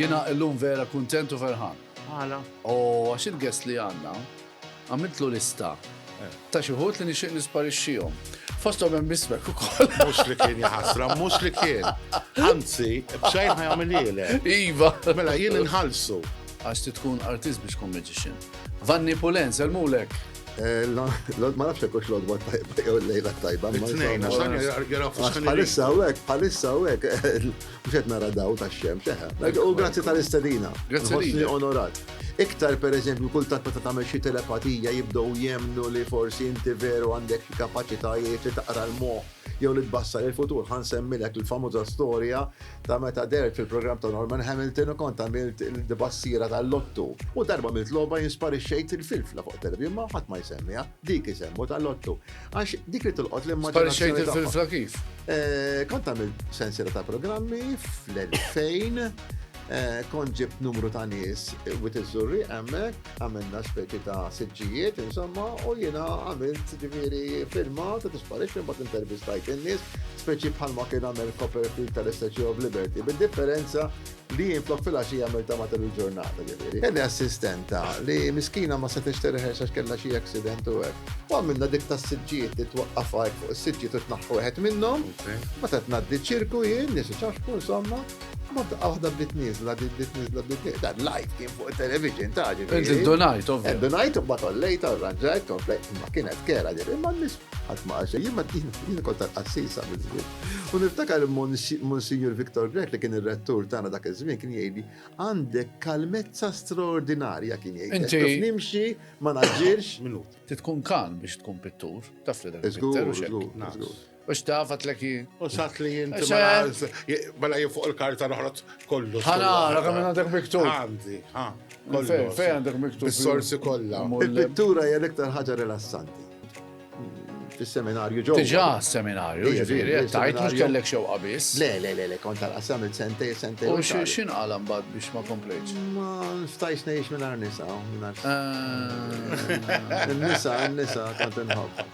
Jiena illum vera kuntent u ferħan. Għala? U għax il-guest li għandna għamiltlu lista ta' xi wħud li nixtieq nisparixxihom. Fosthom hemm ismek ukoll. Mhux li kien jaħasra, mhux li kien. Anzi, b'xejn ħajamililek. Iva. Mela jien inħallsu. Għax tkun artist biex tkun magician. Vanni Pulen, selmulek. Ma nafx jekk hux l-odwa tajba jew l-lejla tajba. Tnejn, għax dan jara f'xħan. Palissa hawnhekk, palissa hawnhekk, mhux qed nara daw tax-xemx, eħe. Eh. U grazzi tal-istedina. Grazzi li onorat. Iktar pereżempju kull tant meta tagħmel xi telepatija jibdew jemnu li forsi inti veru għandek xi kapaċitajiet li taqra l-moħħ jew li tbassar il-futur. Ħan semmilek il-famuża storja Ta' meta dehrt fil-programm ta' Norman Hamilton u kont għamilt il-tbassira tal-Lottu. U darba għamilt logħba jien sparixxejt il-filfla fuq televjun imma ħadd ma jsemmiha, dik isemmu tal-Lottu. Għax dik li tolqot l-immaġinazzjoni tagħhom. Sparixxejt il-filfla kif? Kont għamilt sensiela ta' programmi fl-2000, kont ġibt numru ta' nies, Wied iż-Żurrieq hemmhekk, għamilna speċi ta' siġġijiet, insomma, u jiena għamilt ġifieri firma ta' disparixxu mbagħad intervistajt in-nies, speċi bħalma kien għamel Copperfield tal-Statue of Liberty, bid-differenza li jien flok fil-għaxija għamilt ta' matul il-ġurnata ġifieri. Kelli assistenta li miskina ma setgħex terħex għax kellha xi accident u hekk. U għamilna dik tas-siġġijiet li twaqqaf fuq is-siġġiet u tnaħħu wieħed minnhom, meta tnaddi ċirku jien, nies iċaħħku insomma. Ma f'daqqa waħda bdiet nizla, bdiet nizla, bdiet nizla. Dan lajt kien fuq il-television ta' ġifieri. Inti donajt, ovvja. Eh, donajt, bat ollejt, arranġajt, komplejt, ma kienet kera ġifieri, imma n-nis ħadd ma għaxa, jien ma din kont tal-qassisa mill-żwieġ. U niftakar Monsignor Victor Grech li kien ir-rettur tagħna dak iż-żmien kien jgħidli għandek kalmezza straordinarja kien jgħid. Inti nimxi, ma naġġilx. Minut. Ti tkun kalm biex tkun pittur, taf li dak. Żgur, żgur, żgur. U xtaf għatlek jien. U xat li jinti mela jien fuq il-karta noħroġ kollu. Ħana, rakam minn għandek miktub. Għandi, ha. Fej għandek miktub. Sorsi kollha. Il-pittura hija l-iktar ħaġa rilassanti. Fis-seminarju ġo. Tiġa seminarju, ġifieri, tajt mhux kellek xewqa biss. Le, le, le, le, kont tal-qasam il-sentej, sentej. U x'in qalam bad biex ma komplejtx? Ma stajx ngħix minn nisa, minn eh. Nisa, nisa, kont inħobb.